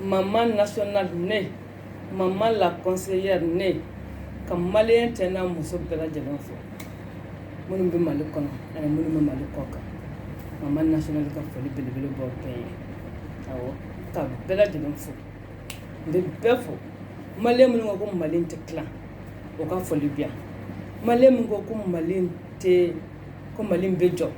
maman nationale ne maman la conseillère ne ka maliyɛn cɛ n'a muso bɛɛ lajɛlen fo minnu bɛ mali kɔnɔ ani minnu bɛ mali kɔkan maman nationale ka foli belebele b'u bɛɛ ye awɔ ka bɛɛ lajɛlen fo n bɛ bɛɛ fo maliyɛn minnu ko ko mali tɛ tilan u ka foli bɛ yan maliyɛn min ko ko mali tɛ ko mali bɛ jɔ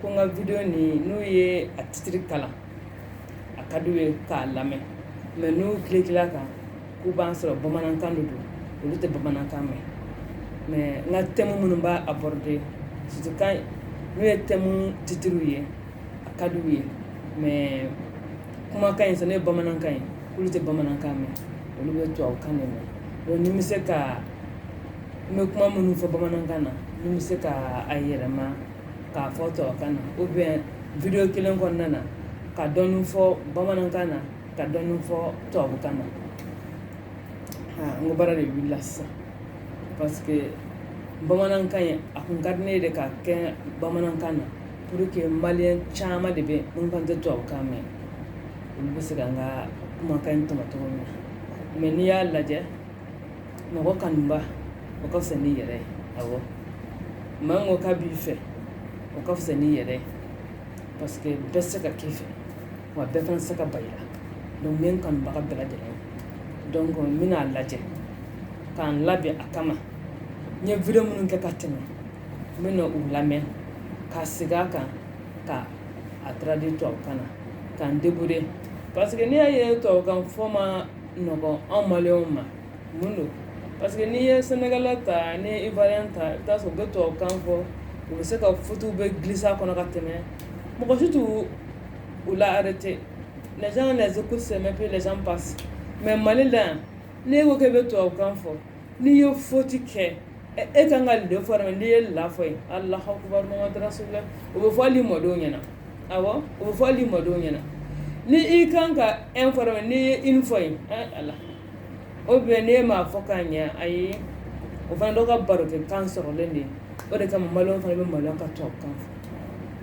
Ko n ka video nin n'u ye a titre kalan a ka d'u ye k'a lamɛn mais n'u cliquer la kan k'u b'a sɔrɔ bamanankan de don olu tɛ bamanankan mɛn mais n ka thème minnu b'a aborder surtout quand n'u ye thème titres ye a ka d'u ye mais kumakan in sisan n'o ye bamanankan ye k'olu tɛ bamanankan mɛn olu bɛ tubabukan de mɛn donc ni n bɛ se ka n bɛ kuma minnu fɔ bamanankan na ni n bɛ se ka a yɛlɛma k'a fɔ tubabukan na ou bien video kelen kɔnɔna na ka dɔɔnin fɔ bamanankan na ka dɔɔnin fɔ tubabukan na n ko baara de wilila sisan parce que bamanankan ye a kun ka di ne ye de k'a kɛ bamanankan na pour que maliyɛn caman de bɛ n kan tɛ tubabukan mɛn olu bɛ se ka n ka kumakan in tɔmɔ cogo min na mais n'i y'a lajɛ mɔgɔ kanuba o ka fisa n'i yɛrɛ ye awɔ maa min ko k'a b'i fɛ o ka fisa n'i yɛrɛ ye parce que bɛɛ tɛ se ka k'i fɛ wa bɛɛ fana tɛ se ka ban i la donc n bɛ n kanubaga bɛɛ lajɛlen donc n bɛna a lajɛ ka n labɛn a kama n ye video minnu kɛ ka tɛmɛ n bɛna u lamɛn ka segin a kan ka a traduire tubabukan na ka n débrouiller parce que n'i y'a ye tubabukan fɔ ma anw ma ma mun don parce que n'i ye sɛnɛga ta ni ba ta i sɔrɔ bɛ to kan fɔ u bɛ se ka futu bɛ gsa kɔnɔ ka tɛmɛ mɔgɔ si tun u la tɛ ko sɛmɛ pe lajɛ pa mɛ mali la yan ne ko kɛ bɛ to kan fɔ n'i ye faute kɛ e kan ka le fɔ n'i ye la fɔ ye ala o bɛ fɔ ni mɔdenw ɲɛna awɔ o bɛ fɔ ni mɔdenw ɲɛna ni i kan ka un fɔ mais n'i ye une fɔ ye ala o bɛ ne ma fɔ k'a ɲɛ a ye o fana dɔw ka baro kɛ kan sɔrɔlen de ye o de kama maliyɛn fana bɛ malo ka tubabukan fɔ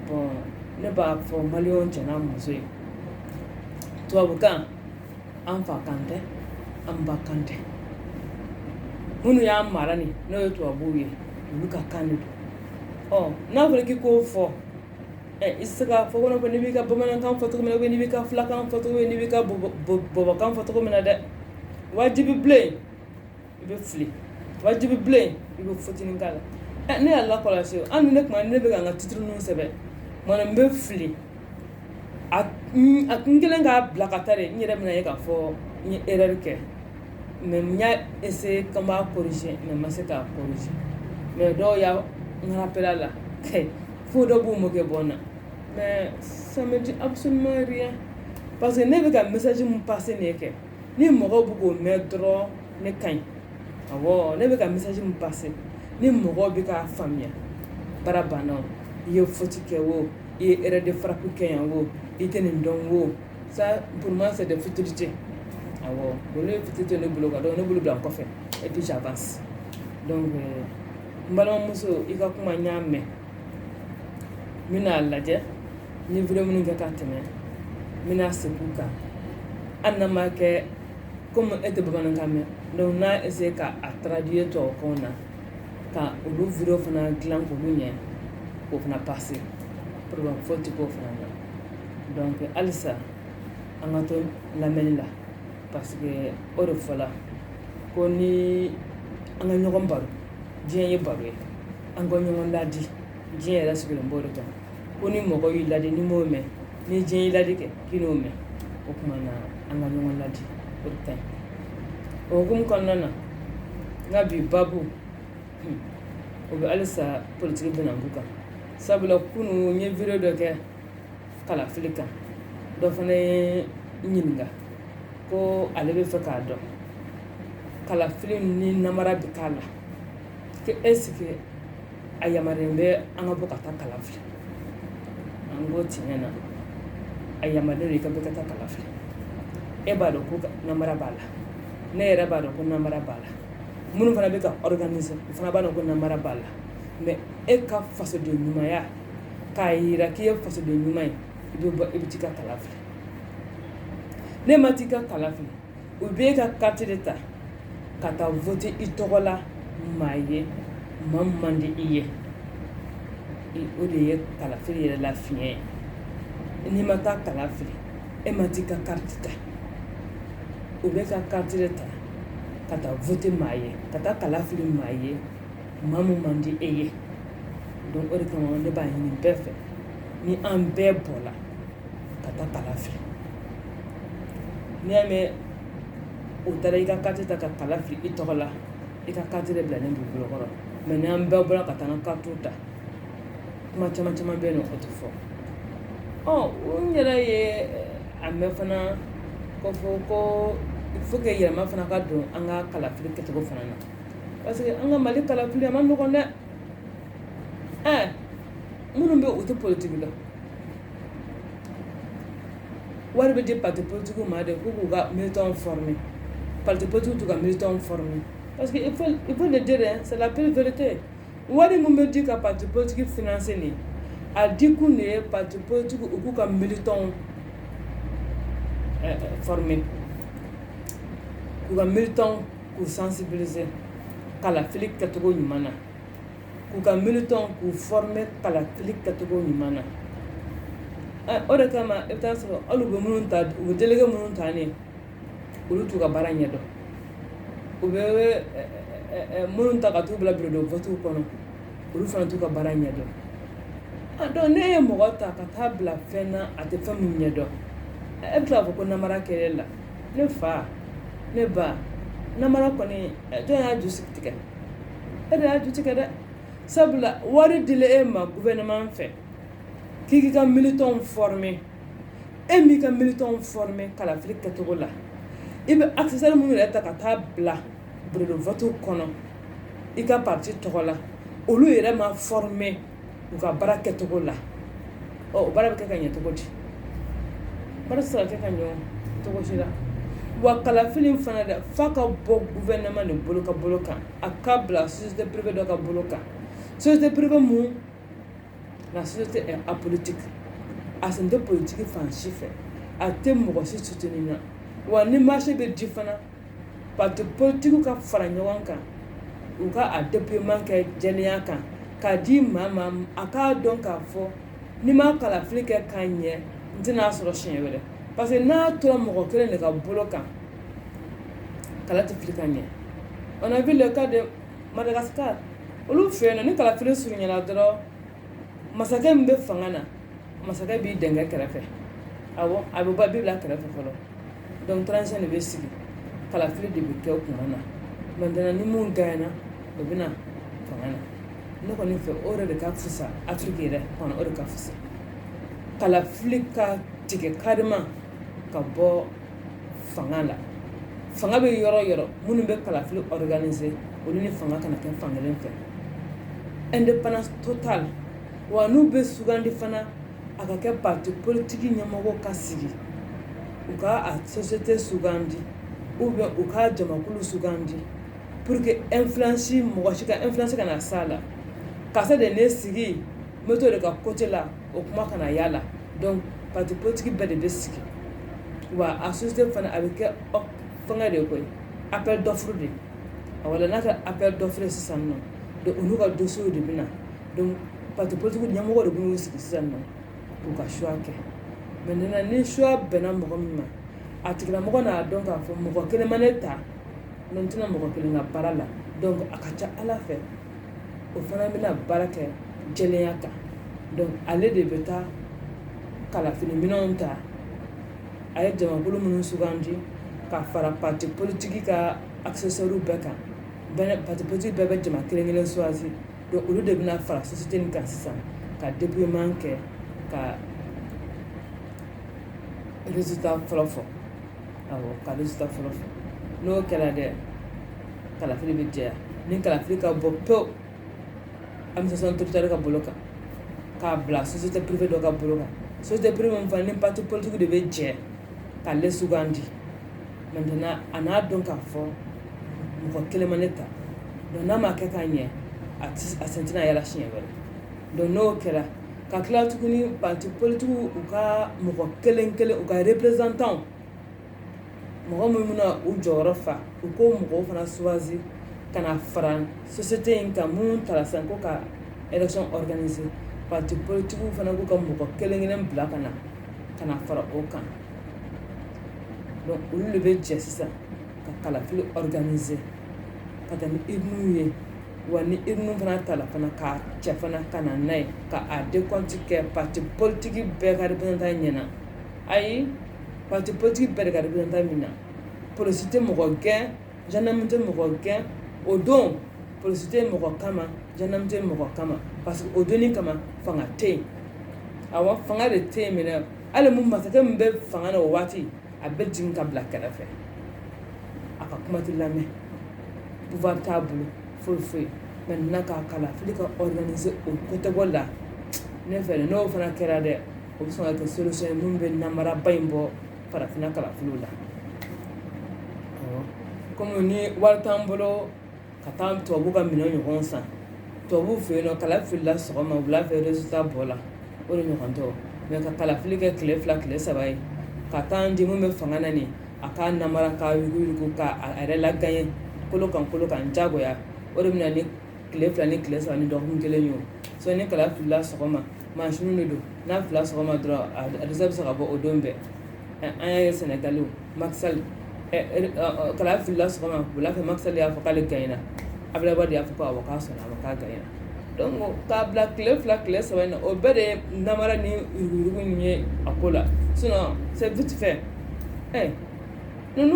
bon ne b'a fɔ maliyɛn cɛ n'a muso ye tubabukan an fa kan tɛ an ba kan tɛ minnu y'an mara nin n'o ye tubabuw ye olu ka kan de don ɔ n'a fɔra k'i k'o fɔ i tɛ se k'a fɔ kɔnɔ ko n'i b'i ka bamanankan fɔ cogo min na n'i b'i ka filakan fɔ cogo min n'i b'i ka bɔbɔkan fɔ cogo min na dɛ wajibi bilen i bɛ fili wajibi bilen i bɛ fitinin k'a la eh, ne y'a lakɔlɔsi an ne kuma ne bɛ ka n ka titre ninnu sɛbɛn mana n bɛ fili a kun kelen k'a bila ka taa de n yɛrɛ bɛna ye k'a fɔ n ye erreur kɛ mais n y'a essayer ko n b'a corriger mais n ma se k'a corriger mais dɔw ye n rappeler a la fo dɔ b'u moquer bɔ n na mais ça me dit absolument rien parce que ne bɛ ka message min passer nin ye kɛ ni mɔgɔw bɛ k'o mɛn dɔrɔn ne ka ɲi awɔ ne bɛ ka message min passer ni mɔgɔw bɛ k'a faamuya baara banna o i ye faute kɛ o i ye erreur de frappe kɛ yan o i tɛ nin dɔn o ça pour moi c'est des futilités awɔ donc olu ye futilité ne bolo quoi donc ne b'olu bila n kɔfɛ et puis j'avance donc n balimamuso i ka kuma n y'a mɛn n bɛna a lajɛ n ye video minnu kɛ ka tɛmɛ n bɛna segin u kan hali n'a ma kɛ komi e tɛ bamanankan mɛn donc n n'a essayer ka a traduire tubabukan na ka olu video fana dilan k'olu ɲɛ k'o fana passer pour que faute k'o fana na donc halisa an ka to lamɛnni la parce que o de fɔla ko ni an ka ɲɔgɔn baro diɲɛ ye baro ye an ka ɲɔgɔn ladi diɲɛ yɛrɛ sigilen b'o de kan ko ni mɔgɔ y'i ladi n'i m'o mɛn ni diɲɛ y'i ladi kɛ k'i n'o mɛn o tuma na an ka ɲɔgɔn ladi o de ka ɲi o hukumu kɔnɔna na n ka bi baabu hmm, o bɛ halisa politiki bɛnanku kan sabula kunu n ye video dɔ kɛ kalafili kan dɔ fana ye n ɲininka ko ale b'a fɛ k'a dɔn kalafili ni namara bɛ k'a la ko est-ce que a yamaruyalen bɛ an ka bɔ ka taa kala fili an ko tiɲɛ na a yamaruyalen don i ka bɔ ka taa kala fili e b'a dɔn ko namara b'a la ne yɛrɛ b'a dɔn ko namara b'a la minnu fana bɛ k'a organiser u fana b'a dɔn ko namara b'a la mais e ka fasoden ɲumanya k'a yira k'i ye fasoden ɲuman ye i bɛ t'i ka kala fili n'e ma t'i ka kala fili u bɛ e ka carte de ta ka taa voter i tɔgɔ la maa ye maa min man di i ye o de ye kalafili yɛrɛ la fiɲɛ ye n'i ma taa kala fili e ma t'i ka carte ta u b'e ka carte de ta ka taa voter maa ye ka taa kala fili maa ye maa min man di e ye donc o de kama ne b'a ɲini bɛɛ fɛ ni an bɛɛ bɔla ka taa kala fili n'i y'a mɛn u taara i ka kati ta ka kala fili i tɔgɔ la i ka kati de bilalen b'i bolo kɔrɔ mais ni an bɛɛ bɔra ka taa an ka katiw ta kuma caman caman bɛ yen nɔ o tɛ fɔ ɔ n yɛrɛ ye a mɛn fana ko fɔ ko il faut que yɛlɛma fana ka don an ka kalafili kɛcogo fana na parce que an ka mali kalafili a man nɔgɔn dɛ ɛɛ minnu bɛ u tɛ politiki la wari bɛ di pati politiki ma de ko k'u ka militɔn fɔrɔme pati politiki t'u ka militɔn fɔrɔme parce que il faut il faut le dire hein, c'est la pure vérité wari min bɛ di ka pati politiki financer nin a di kun de ye pati politiki u k'u ka militɔnw ɛɛ fɔrɔme k'u ka militɔnw k'u sensibiliser kalafili kɛcogo ɲuman na k'u ka militɔn k'u former kalafili kɛcogo ɲuman na o de kama i bɛ taa sɔrɔ hali u bɛ minnu ta u bɛ delege minnu ta ne olu t'u ka baara ɲɛdɔn u bɛ minnu ta ka t'u bila bureau de vote kɔnɔ olu fana t'u ka baara ɲɛdɔn donc n'e ye mɔgɔ ta ka taa bila fɛn na a tɛ fɛn min ɲɛdɔn e bɛ tila k'a fɔ ko namara kɛlɛ la ne fa ne ba namara kɔni jɔn y'a ju sigi tigɛ e de y'a ju tigɛ dɛ sabula wari dila e ma gouvernement fɛ k'i k'i ka militɔnw former e m'i ka militɔnw former kalafili kɛcogo la i bɛ assesseur minnu yɛrɛ ta ka taa bila bureau de vote kɔnɔ i ka parti tɔgɔ la olu yɛrɛ ma former u ka baara kɛcogo la o baara bɛ kɛ ka ɲɛ cogo di baara tɛ se ka kɛ ka ɲɛ cogo si la wa kalafili fana dɛ f'a ka bɔ gouvernement de bolo ka bolo kan a ka bila société privée dɔ ka bolo kan société privée mun na société apolitique a sen tɛ politiki fan si fɛ a tɛ mɔgɔ si suteni na wa ni marché bɛ di fana pati politikiw ka fara ɲɔgɔn kan u ka a dépouillement kɛ jɛlenya kan k'a di maa ma a k'a dɔn k'a fɔ ni n ma kalafili kɛ ka ɲɛ n tɛn'a sɔrɔ siɲɛ wɛrɛ parce que n'a tora mɔgɔ kelen de ka bolo kan kala tɛ fili ka ɲɛ on a vu le cas de Madagascar olu fɛ yen nɔ ni kalafili surunyana dɔrɔn masakɛ min bɛ fanga na masakɛ b'i dɛngɛ kɛrɛfɛ awɔ a bɛ bɔ b'i bila kɛrɛfɛ fɔlɔ donc transition de bɛ sigi kalafili de bɛ kɛ o kuma na maintenant ni min ganyana o bɛ na fanga na ne kɔni fɛ o yɛrɛ de ka fisa afiriki yɛrɛ kɔnɔ o de ka fisa kalafili ka tigɛ carrément ka bɔ fanga la fanga bɛ yɔrɔ o yɔrɔ minnu bɛ kalafili organiser olu ni fanga kana kɛ fan kelen fɛ indépendance totale wa n'u bɛ sugandi fana a ka kɛ parti politique ɲɛmɔgɔw ka sigi u ka a société sugandi ou bien u ka jamakulu sugandi pour que influence mɔgɔ si ka influence kana s'a la karisa de ye ne sigi n bɛ to de ka côté la o kuma kana y'a la donc parti politique bɛɛ de bɛ sigi wa a société fana a bɛ kɛ fɛngɛ de ye koyi appel d'offre de wala n'a kɛra appel d'offre sisan nɔ donc olu ka dossier de bɛ na donc parti politique ɲɛmɔgɔ de b'u sigi sisan nɔ u ka choix kɛ maintenant ni choix bɛnna mɔgɔ min ma a tigilamɔgɔ n'a dɔn k'a fɔ mɔgɔ kelen ma ne ta n tɛna mɔgɔ kelen ka baara la donc a ka ca ala fɛ o fana bɛna baara kɛ jɛlenya kan donc ale de bɛ taa kalafili minɛnw ta a ye jamakulu minnu sugandi ka fara parti politique ka assesseurs bɛɛ kan parti politique bɛɛ bɛ jama kelen kelen choisir donc olu de bɛna fara société nin kan sisan ka dépouillement kɛ ka résultat fɔlɔ fɔ awɔ ka résultat fɔlɔ fɔ n'o kɛra dɛ kalafili bɛ jɛya ni kalafili ka bɔ pewu administration territoriale ka bolo kan k'a bila société privée dɔ ka bolo kan société privée min fana ni parti politique de bɛ jɛ k'ale sugandi maintenant a n'a dɔn k'a fɔ mɔgɔ kelen ma ne ta donc n'a ma kɛ ka ɲɛ a sen tɛna y'a la siɲɛ wɛrɛ donc n'o kɛra ka tila tuguni parti politique u ka mɔgɔ kelen kelen u ka représentants mɔgɔ minnu bɛna u jɔyɔrɔ fa u k'o mɔgɔw fana choisir ka na fara société in kan minnu tala sisan ko ka élection organiser parti politique fana k'u ka mɔgɔ kelen kelen bila ka na ka na fara o kan donc olu de bɛ jɛ sisan ka kalafili organiser ka taa ni urne ye wa ni urne fana tala fana k'a cɛ fana ka na n'a ye ka a décompte kɛ parti politique bɛɛ ka représentant ɲɛna ayi parti politique bɛɛ de ka représentant min na polisi tɛ mɔgɔ gɛn gendarme tɛ mɔgɔ gɛn o don polisi tɛ mɔgɔ kama gendarme tɛ mɔgɔ kama parce que o don in kama fanga tɛ yen awɔ fanga de tɛ yen même hali mun masakɛ min bɛ fanga na o waati a bɛ jigin ka bila kɛrɛfɛ a ka kuma tɛ lamɛn pouvoir t'a bolo foyi foyi maintenant k'a kalafili ka organiser o côté bɔ la ne fɛ n'o fana kɛra dɛ o bɛ sɔn ka kɛ solution ye min bɛ namaraba in bɔ farafinna kalafiliw la komi ni wari t'an bolo ka taa tubabu ka minɛn ɲɔgɔn san tubabu fɛ yen nɔ kala filila sɔgɔma wula fɛ résultat bɔla o de ɲɔgɔn tɛ o mais ka kalafili kɛ tile fila tile saba ye ka taa di mun bɛ fanga na nin a ka namara ka yuruguyurugu k'a yɛrɛ lagaɲɛ kolo kan kolo kan jagoya o de bɛ na ni tile fila ni tile saba ni dɔgɔkun kelen ye so ni kala filila sɔgɔma mansinw de don n'a filila sɔgɔma dɔrɔn a résultat bɛ se ka bɔ o don bɛɛ an y'a ye sénégal macky sall kala filila sɔgɔma wula fɛ macky sall y'a fɔ k'ale gaɲɛna abdoulaye wade y'a fɔ ko awɔ k'a sɔnna k'a gaɲɛna k'a bila tile fila tile saba o bɛɛ de ye nara ni ninnu ye a ko la sɛti fɛ ɛ n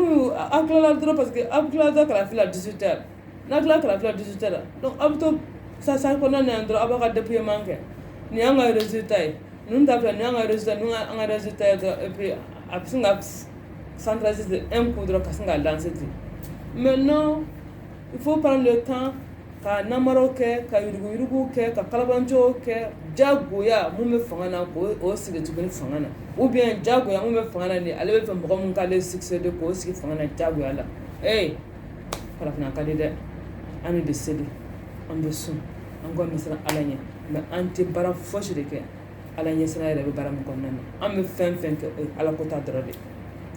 aw tilala dɔrɔn parce que aw tilala da kalafin la dusu tɛ n'a tila kalafila dusu tɛ la aw bɛ to sa sa kɔnɔ na dɔrɔn aw bɛ ka dafe man kɛ nin y'an ka z ta ye ninnu ta filɛ ni y'an kaz n' an kaz ta ye dɔrɔn a bɛ sin ka sansi e ko dɔrɔn ka sin ka danse ten mɛ n il faut prendre le temps ka namaraw kɛ ka yuruguyuruguw kɛ ka kalabanciw kɛ jagoya mun bɛ fanga na ko o sigi tuguni fanga na ou bien jagoya mun bɛ fanga na ni ale bɛ fɛ mɔgɔ mun k'ale succéder k'o sigi fanga na jagoya la ee farafinna ka di dɛ an bɛ seli an bɛ sun an kɔni bɛ siran ala ɲɛ mais an tɛ baara fosi de kɛ ala ɲɛsiran yɛrɛ bɛ baara min kɔnɔna na an bɛ fɛn fɛn kɛ o ye ala ko ta dɔrɔn de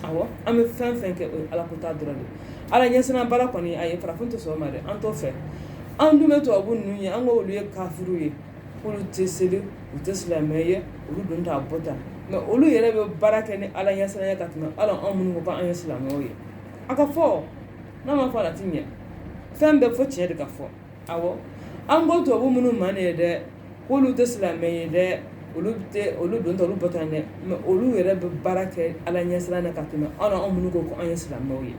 awɔ an bɛ fɛn fɛn kɛ o ye ala ko ta dɔrɔn de ala ɲɛsiran baara kɔni ayi farafin tɛ sɔn o ma dɛ an t'o fɛ an dun bɛ tubabu ninnu ye an ko olu ye kafiriw ye k'olu tɛ seli u tɛ silamɛ ye olu don t'a bɔ tan mais olu yɛrɛ bɛ baara kɛ ni ala ɲɛsiran ye ka tɛmɛ hali anw minnu ko k'an ye silamɛw ye a ka fɔ n'a ma fɔ a la tiɲɛ fɛn bɛɛ fɔ tiɲɛ de ka fɔ an ko tubabu minnu ma ne ye dɛ k'olu tɛ silamɛ ye dɛ olu olu don t'a bɔ tan dɛ mais olu yɛrɛ bɛ baara kɛ ala ɲɛsiran na ka tɛmɛ anw anw minnu ko ko an ye silamɛw ye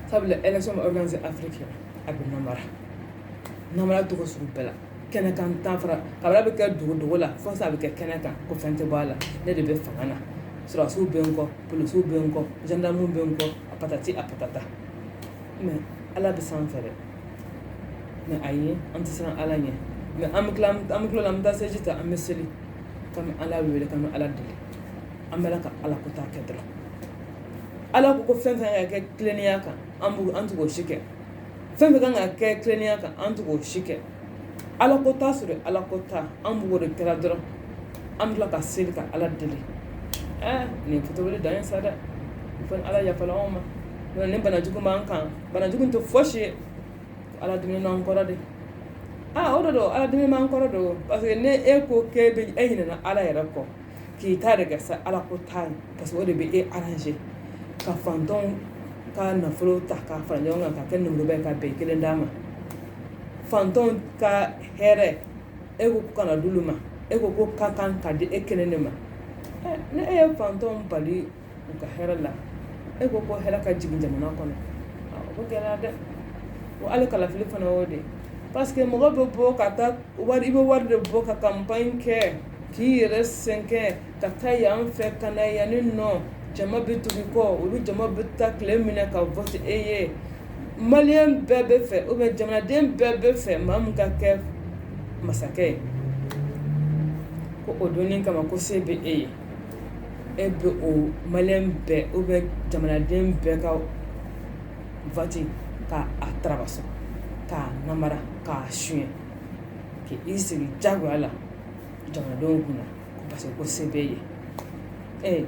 sabula élection bɛ organiser afrique a bɛ namara namara tɔgɔ sugu bɛɛ la kɛnɛ kan tan fara ka bɛ kɛ dogo dogo la fo a bɛ kɛ kɛnɛ kan ko fɛn tɛ bɔ a la ne de bɛ fanga na sɔrɔdasiw bɛ n kɔ polisiw bɛ n kɔ zandaramuw bɛ n kɔ a patati a patata mais ala bɛ sanfɛ dɛ mais ayi an tɛ siran ala ɲɛ mais an bɛ tila an bɛ tila an bɛ taa seliji ta an bɛ seli k'an bɛ ala wele k'an bɛ ala deli an bɛ la ka ala ko ta kɛ dɔrɔn ala ko ko fɛn fɛn ka kan ka kɛ tilennenya kan an t'o ko si kɛ fɛn fɛn ka kan ka kɛ tilennenya kan an t'o ko si kɛ ala ko t'a sɔrɔ ala ko ta an b'o de kɛra dɔrɔn an tila ka seli ka ala deli nin fitiriwale dan ye sa dɛ fo ni ala yafala anw ma ni bana jugu b'an kan bana jugu tɛ fosi ye ala dimina an kɔrɔ de aa o de don ala dimi b'an kɔrɔ don parce que ni e ko k'e ɲinɛna ala yɛrɛ kɔ k'i ta de kɛ sa ala ko t'a ye parce que o de bɛ e arranger ka fantɔnw ka nafolo ta k'a fara ɲɔgɔn kan ka kɛ nafolo bɛ ka bɛn kelen dama fantɔnw ka hɛrɛ e ko kana d'olu ma e ko k'o ka kan ka di e kelen de ma ni e ye fantɔnw bali u ka hɛrɛ la e ko ko hɛrɛ ka jigin jamana kɔnɔ o bɛ gɛlɛya dɛ wa hali kalafili fana o de parce que mɔgɔ bɛ bɔ ka taa i bɛ wari de bɔ ka campagne kɛ k'i yɛrɛ sɛgɛn ka taa yan fɛ ka na yan ni nɔ jama bɛ tugu i kɔ olu jama bɛ taa tile minɛ ka vote e ye maliyɛn bɛɛ bɛ fɛ ou bien jamanaden bɛɛ bɛ fɛ maa min ka kɛ masakɛ ye ko o donni kama ko se bɛ e ye E bɛ o maliyɛn bɛɛ ou bien jamanaden bɛɛ ka vote k'a tarabasu k'a nanbara k'a sonyɛ k'i sigi jagoya la jamanadenw kunna parce que ko se b'e ye ɛ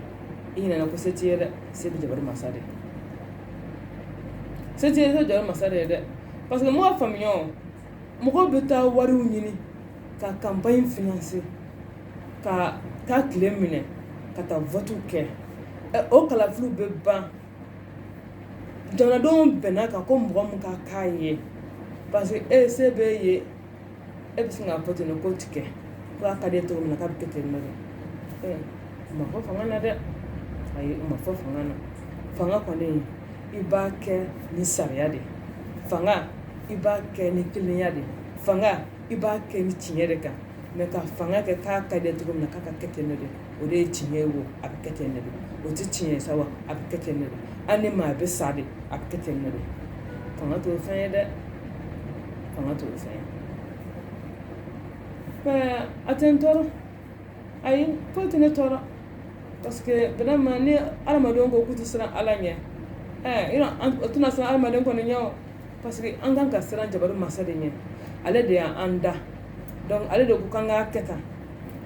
i ɲinɛna ko se t'i ye dɛ se bɛ jabaru masa de ye se bɛ jabaru masa de ye dɛ parce que mɔgɔ faamuya mɔgɔ bɛ taa wari ɲini ka campagne financer ka taa tile minɛ ka taa vote kɛ o kalafili bɛ ban jamanadenw bɛnna kan ko mɔgɔ min ka k'a ye parce que e se b'e ye e bɛ sin ka vote in ko tigɛ k'a ka di e cogo min k'a bɛ kɛ ten ma fɔ fanga na dɛ a ma fɔ fanga na fanga kɔni i b'a kɛ ni sariya de fanga i b'a kɛ ni kilenya de fanga i b'a kɛ ni tiɲɛ de kan mais ka fanga kɛ k'a ka di e cogo min na k'a ka kɛ ten nɔ de o de ye tiɲɛ ye wo a bɛ kɛ ten nɔ de o tɛ tiɲɛ ye sa wa a bɛ kɛ ten nɔ de hali ni maa bɛ sa de a bɛ kɛ ten nɔ de fanga t'o fɛn ye dɛ fanga t'o fɛn ye a tɛ n tɔɔrɔ ayi foyi tɛ ne tɔɔrɔ parce que vraiment ni adamadenw ko k'u tɛ siran ala ɲɛ ɛɛ yɔrɔ an o tɛna siran adamaden kɔni ɲɛ o parce que an kan ka siran jabaru masa de ɲɛ ale de y'an da donc ale de ko k'an k'a kɛ tan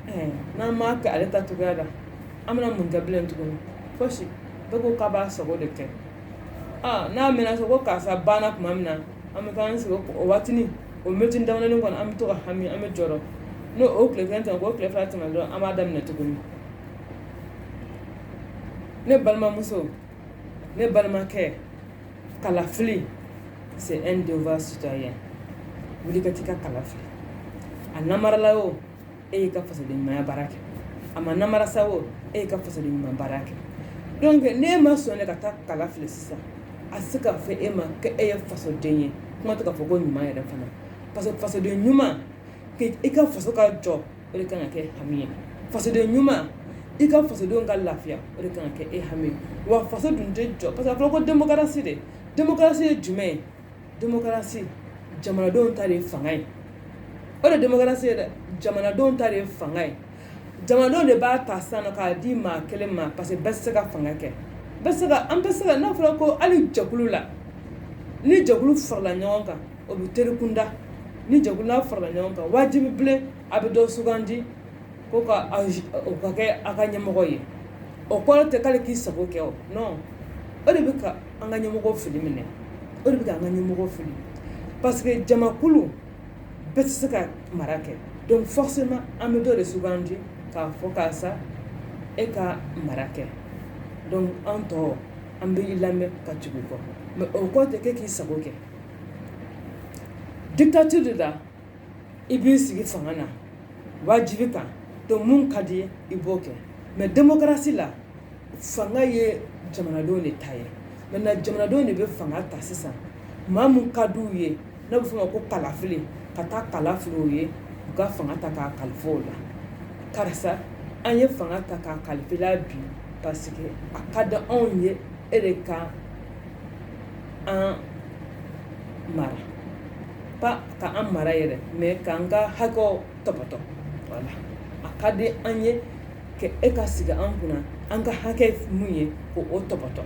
ɛɛ n'an m'a kɛ ale ta cogoya la an bɛna mun kɛ bilen tuguni fosi bɛɛ ko k'a b'a sago de kɛ aa n'a mɛnna so ko karisa banna tuma min na an bɛ taa an sigi o waatini o miniti damadɔnin kɔnɔ an bɛ to ka hami an bɛ jɔrɔ n'o o tile kelen tɛmɛ o tile fila tɛmɛ dɔrɔn an b'a daminɛ tuguni ne balimamuso ne balimakɛ kalafili c'est un devoir citoyen wuli ka taa i ka kala fili a namarala o e y'i ka fasoden ɲumanya baara kɛ a ma namara sa o e y'i ka fasoden ɲuman baara kɛ donc n'e ma sɔn e ka taa kala fili sisan a se ka fɔ e ma ko e ye fasoden ye kuma tɛ ka fɔ ko ɲuman yɛrɛ fana parce que fasoden ɲuman i ka faso ka jɔ o de kan ka kɛ hami ye fasoden ɲuman i ka fasodenw ka lafiya o de kan ka kɛ e hami ye wa faso dun tɛ jɔ parce que a fɔra ko démocratie de démocratie ye jumɛn ye démocratie jamanadenw ta de ye fanga ye o de démocratie ye dɛ jamanadenw ta de ye fanga ye jamanadenw de b'a ta sisan k'a di maa kelen ma parce que bɛɛ tɛ se ka fanga kɛ an bɛ se ka n'a fɔra ko hali jɛkulu la ni jɛkulu farala ɲɔgɔn kan o bɛ teri kunda ni jɛkulu n'a farala ɲɔgɔn kan wajibi bilen a bɛ dɔ sugandi k'o ka kɛ aw ka ɲɛmɔgɔ ye o kɔrɔ tɛ k'ale k'i sago kɛ o o de bɛ an ka ɲɛmɔgɔ fili minɛ o de bɛ ka an ka ɲɛmɔgɔ fili parce que jamakulu bɛɛ tɛ se ka mara kɛ donc forcément an bɛ dɔ de sugandi k'a fɔ karisa e ka mara kɛ donc an tɔw an bɛ i lamɛn ka tugu i kɔ mais o kɔrɔ tɛ k'e k'i sago kɛ dictature de la i b'i sigi fanga na wajibi kan donc min ka di i b'o kɛ mais démocratie la fanga ye jamanadenw de ta ye maintenant jamanadenw de bɛ fanga ta sisan maa mun ka d'u ye n'a bɛ f'o ma ko kalafili ka taa kala fili u ye u ka fanga ta k'a kalifa o la karisa an ye fanga ta k'a kalifa i la bi parce que a ka di anw ye e de ka an mara pas ka an mara yɛrɛ mais k'an ka hakɛw tɔpɔtɔ voilà a ka di an ye ka e ka sigi an kunna an ka hakɛ minnu ye k'o tɔpɔtɔ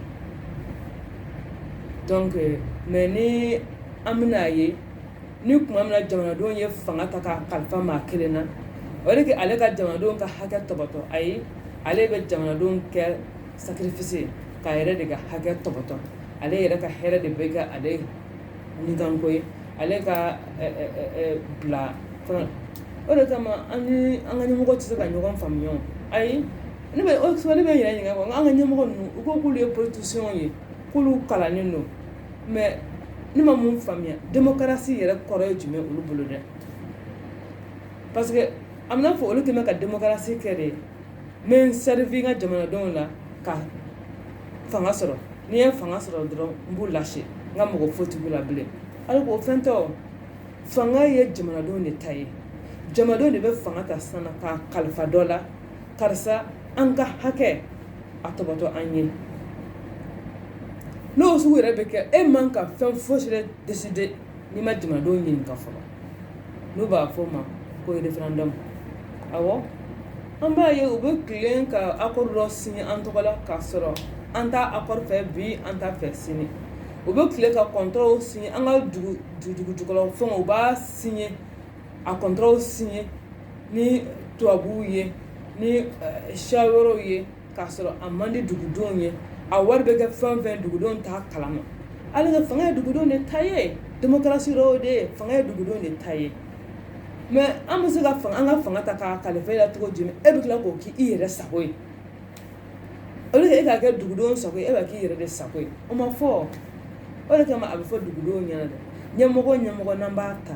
donc mais ni an bɛna a ye ni tuma min na jamanadenw ye fanga ta k'a kalifa maa kelen na o de kɛ ale ka jamanadenw ka hakɛ tɔpɔtɔ ayi ale bɛ jamanadenw kɛ sacrifice k'a yɛrɛ de ka hakɛ tɔpɔtɔ ale yɛrɛ ka hɛrɛ de bɛ kɛ ale nikanko ye ale ka bila o de kama an n'an ka ɲɛmɔgɔ tɛ se ka ɲɔgɔn faamuya ayi ne bɛ yɛrɛ ɲininka an ka ɲɛmɔgɔ ninnu u ko k'olu ye politiciens ye k'olu kalannen don mais ne ma mun faamuya démocratie yɛrɛ kɔrɔ ye jumɛn olu bolo dɛ parce que a bɛ i n'a fɔ olu tun bɛ ka démocratie kɛ de ye n bɛ n servir n ka jamanadenw la ka fanga sɔrɔ n'i ye fanga sɔrɔ dɔrɔn n b'u lâcher n ka mɔgɔ foyi t'u la bilen alors que o fɛn tɛ o fanga ye jamanadenw de ta ye jamanadenw de bɛ fanga ta sisan k'a kalifa dɔ la karisa an ka hakɛ a tɔpɔtɔ an ye n'o sugu yɛrɛ bɛ kɛ e man ka fɛn fosi yɛrɛ décider n'i ma jamanadenw ɲininka fɔlɔ n'u b'a fɔ o ma ko référendum awɔ an b'a ye u bɛ tilen ka accord dɔ signer an tɔgɔ la k'a sɔrɔ an t'a accord fɛ bi an t'a fɛ sini u bɛ tilen ka contratw signer an ka dugujukɔrɔ fɛn u b'a signer a contratw signer ni tubabuw ye ni siya wɛrɛw ye k'a sɔrɔ a man di dugudenw ye a wari bɛ kɛ fɛn fɛn dugudenw t'a kalama alors que fanga ye dugudenw de ta ye demokarasi kɔrɔ de ye fanga ye dugudenw de ta ye mais an bɛ se ka fanga an ka fanga ta k'a kalifa e la cogo jumɛn e bɛ tila k'o k'i yɛrɛ sago ye au lieu e k'a kɛ dugudenw sago ye e b'a k'i yɛrɛ de sago ye o ma fɔ o de kama a bɛ fɔ dugudenw ɲɛna dɛ ɲɛmɔgɔ ɲɛmɔgɔ n'an b'a ta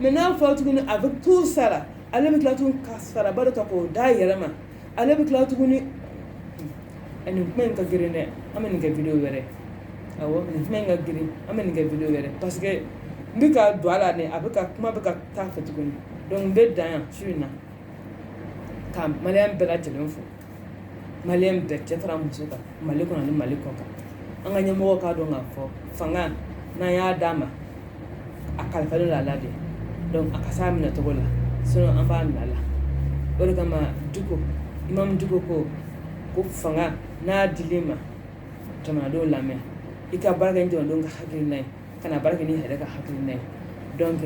mais n'a fɔra tuguni a bɛ tout sara ale bɛ tila tuguni ka saraba dɔ ta k'o d'a yɛrɛ ma ale bɛ tila tuguni a nin kuma in ka girin dɛ an bɛ nin kɛ video wɛrɛ awɔ nin kuma in ka girin an bɛ nin kɛ video wɛrɛ parce que n bɛ ka don a la dɛ a bɛ ka kuma bɛ ka taa fɛ tuguni donc n bɛ dan yan su in na ka maliyɛn bɛɛ lajɛlen fo maliyɛn bɛɛ cɛ fara muso kan mali kɔnɔ ni mali kɔ kan an ka ɲɛmɔgɔ k'a dɔn k'a fɔ fanga n'an y'a d'a ma a kalifalen don a la de a ka s'a minɛ cogo la sinon an b'a minɛ a la o de kama Dicko Imam Dicko ko fanga n'a dil'i ma jamanadenw lamɛn i ka baara kɛ ni jamanadenw ka hakilina ye kana baara kɛ n'i yɛrɛ ka hakilina ye donc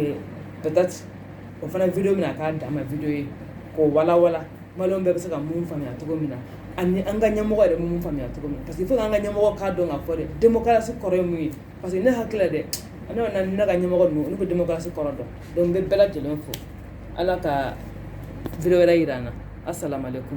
peut-être o fana video bɛna k'a danma video ye k'o walawala maliyɛn bɛɛ bɛ se ka mun faamuya cogo min na ani an ka ɲɛmɔgɔ yɛrɛ mun faamuya cogo min parce que il faut an ka ɲɛmɔgɔ k'a dɔn k'a fɔ dɛ demokarasi kɔrɔ ye mun ye parce que ne hakili la dɛ an ka ɲɛmɔgɔ ninnu olu bɛ demokarasi kɔrɔ dɔn donc n bɛ bɛɛ lajɛlen fo ala ka video wɛrɛ jira an na assalamu alaikum